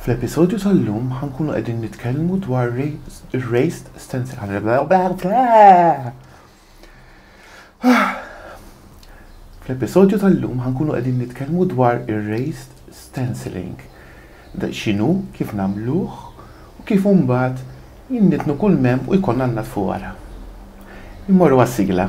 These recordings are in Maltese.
Fl-episodju tal-lum ħa nkunu qegħdin nitkellmu dwar raised stencil. Fl-episodju tal-lum ħa nkunu qegħdin nitkellmu dwar ir-raised stenciling. Da x'inhu, kif nagħmluh u kif imbagħad jinnitnu kull mem u jkollna natfu wara. Immorru għas-sigla.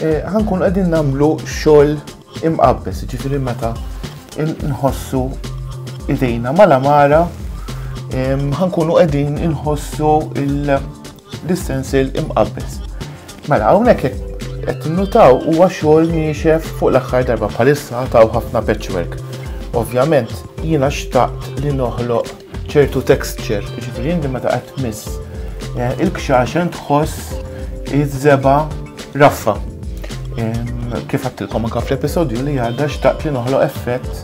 Eh, ħankun qegħdin nagħmlu xogħol imqabbes, jiġifieri meta nħossu idejna mal-amara, ħankunu qegħdin inħossu l-istensel imqabbes. Mela hawnhekk qed nutaw huwa xogħol niexef fuq l-aħħar darba bħalissa taw ħafna patchwork. Ovvjament jiena xtaqt li noħloq ċertu texture, ġifiri inti meta qed tmiss eh, il-kxaxen tħoss iż-żeba raffa. Kif għattilkom anka fl-episodju li għadda xtaqt li noħloq effett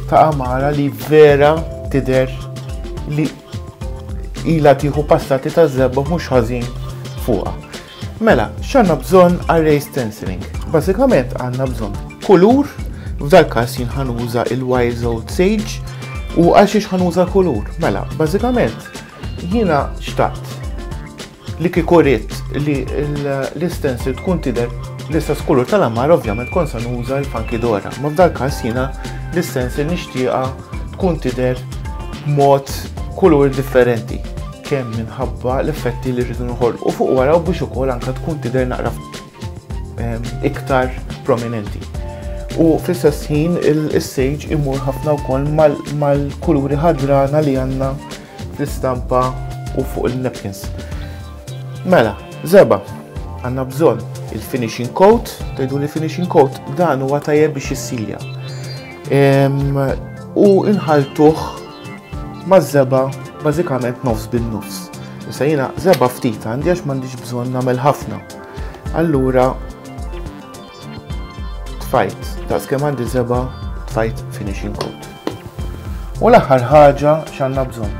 ta' amara li vera tider li ila tiħu passati ta' zebba mhux ħażin fuqha. Mela, x'għandna bżonn għal ray stenciling? Bażikament għandna bżonn kulur, f'dal każ jien ħanuża il-Wise Old Sage, u għal xiex ħanuża kulur. Mela, bażikament jiena xtaqt li kikurit li l-istensil tkun tidher l-istess kulur tal-ammar ovvjament kon sa nuża l-funky dora. Ma f'dal każ jiena l-istensil nixtieqa tkun tidher b'mod kulur differenti kemm minħabba l-effetti li rridu noħolqu fuq wara u biex ukoll anke tkun tidher naqra ehm, iktar prominenti. U fl-istess ħin il-sage imur ħafna wkoll mal-kuluri ħadrana li għandna fl-istampa u fuq il-napkins. Mela, zeba, għanna bżon il-finishing coat, tajdu li finishing coat, dan huwa tajjeb biex jissilja. U inħaltuh ma' zeba bażikament nofs bin nofs. Issa jiena zeba ftit għandi għax m'għandix bżonn nagħmel ħafna. Allura tfajt, daqs kemm għandi zeba tfajt finishing coat. U l-aħħar ħaġa x'għandna bżonn.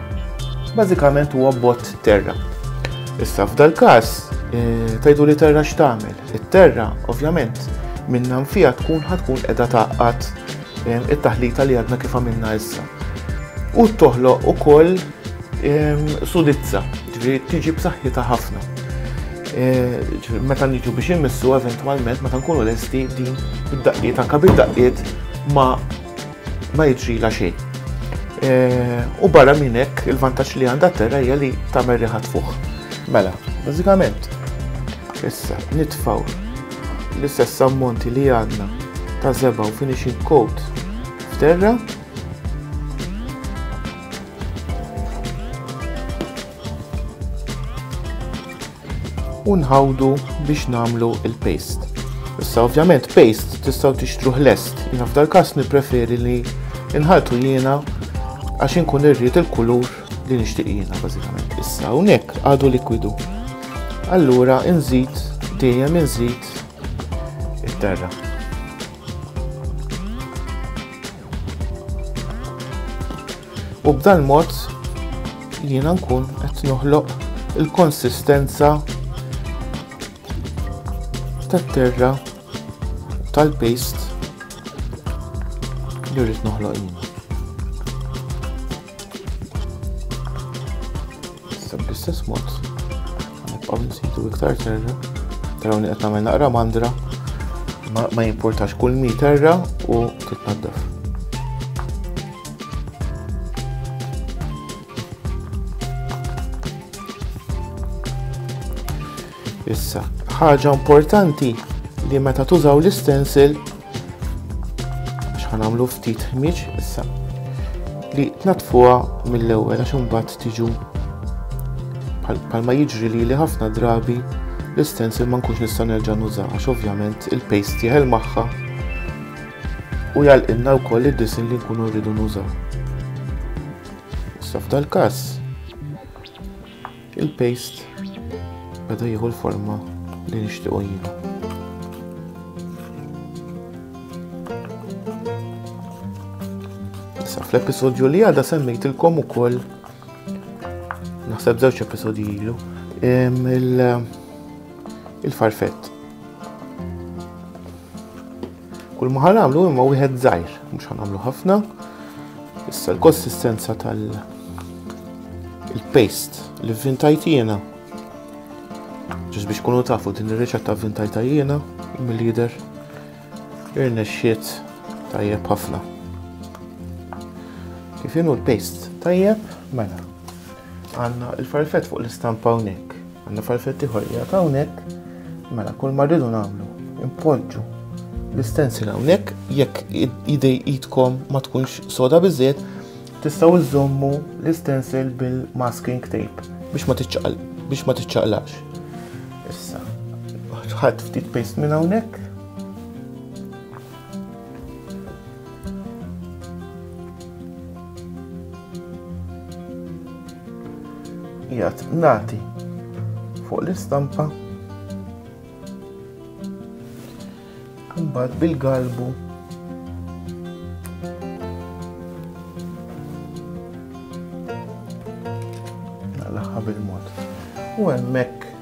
Bażikament huwa bot terra. Issa f'dal-każ eh, tajdu li terra x'tagħmel. It-terra, ovvjament, minna nfija tkun ħatkun qiegħda taqqat ehm, it-taħlita li għadna kif għamilna issa. U toħloq ukoll ehm, sudizza, ġifieri tiġi b'saħħitha ħafna. Eh, meta niġu biex immissu eventwalment meta nkunu lesti din id-daqqiet anka bid-daqqiet ma' ma jiġrilha xejn. Eh, u barra minn hekk il-vantaġġ li għandha terra hija li tagħmel riħa tfuħ. Mela, bażikament issa nitfaw l-istess ammonti li għandna ta' zeba u finishing coat f'terra. u nħawdu biex nagħmlu il-paste. Issa ovvjament paste tistgħu tixtruh lest, jiena f'dal każ nippreferi li nħaltu jiena għax inkun irrid il-kulur li nixtieq jiena bażikament. Issa hawnhekk għadu likwidu. Allura inżid dejjem inżid it-terra. u b'dan mod jiena nkun qed noħloq il-konsistenza tat-terra tal-paste li rrid noħloq jiena. Issa bl-istess mod nibqgħu nsidu iktar terra, taraw li qed nagħmel naqra mandra ma jimportax kull mi terra u titnaddaf. Issa, ħaġa importanti li meta tużaw l-istensil ħanamlu ftit ħmieġ issa li tnatfuha mill-ewwel għax imbagħad tiġu bħalma jiġri li li ħafna drabi l-istensil ma nkunx nista' nerġa' nuża għax ovvjament il-paste jeħel magħha u jagħlqilna wkoll id-disinn li nkunu rridu nużaw. Issa f'dal każ il-paste beda jieħu l-forma li nixtiequ jiena. Issa fl-episodju li għadha semmejtilkom ukoll naħseb żewġ episodji ilu il-farfett Kull ma ħanamlu imma wieħed żgħir, mhux ħanamlu ħafna. Issa l-konsistenza tal il-paste li vintajt jiena. Ġus biex kunu tafu din ir-riċetta vintajta jiena mill-lider irnexxiet tajjeb ħafna. Kif inhu l-paste tajjeb, mela. Għanna il-farfet fuq l-istampa hawnhekk. Għanna farfetti ieħor li għad hawnhekk, mela kull ma rridu nagħmlu impoġġu l-istensil hawnhekk jekk idej idkom ma tkunx soda biżżejjed tistgħu iżommu l-istensil bil-masking tape biex ma tiċċaqal biex ma tiċċaqlax. Issa, ħadd ftit paste minn hawnhekk. Jgħat nati fuq l-istampa mbagħad bil-galbu naqlaħħa bil-mod. U hemmhekk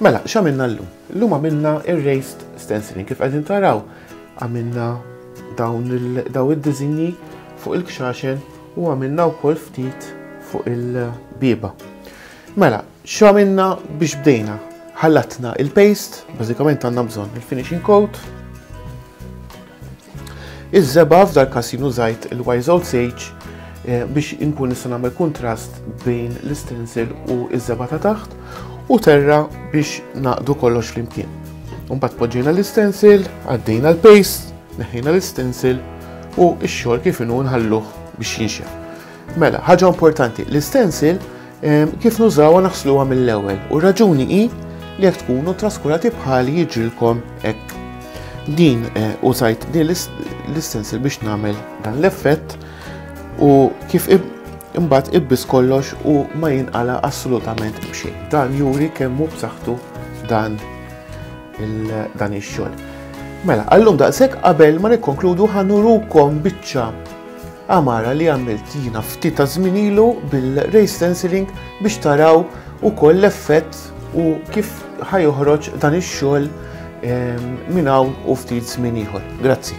Mela, x'għamilna llum? Llum għamilna erased stenciling kif qegħdin taraw għamilna dawn daw id-diżinji fuq il-kxaxen u għamilna wkoll ftit fuq il-biba. Mela, x'għamilna biex bdejna? Ħallatna il-paste, bażikament għandna bżonn il-finishing coat, Iż-żebgħa f'dal-każ jien użajt il-wise old sage eh, biex inkun nista' nagħmel kuntrast bejn l-istensil u iż-żebgħa ta' taħt u terra biex naqdu kollox flimkien. Mbagħad poġġejna l-istensil, għaddejna l-paste, neħħejna l-istensil u x-xogħol kif inhu nħalluh biex jinxef. Mela, ħaġa importanti, l-istensil ehm, kif nużawha naħsluha mill-ewwel u raġuni hi li jekk tkunu traskurati bħali jiġrilkom hekk. Din eh, użajt din l-istensil biex nagħmel dan l-effett u kif imbagħad ibbis kollox u ma jinqala assolutament b'xejn. Dan juri kemm hu b'saħħtu dan dan ix-xogħol. Mela, għallum daqshekk qabel ma nikkonkludu ħanurukom biċċa Għamara li għamilt jiena ftit ta' żmien ilu bil-ray stenciling biex taraw ukoll l-effett u kif ħajoħroġ dan ix-xogħol ehm, minn hawn u ftit żmien ieħor. Grazzi.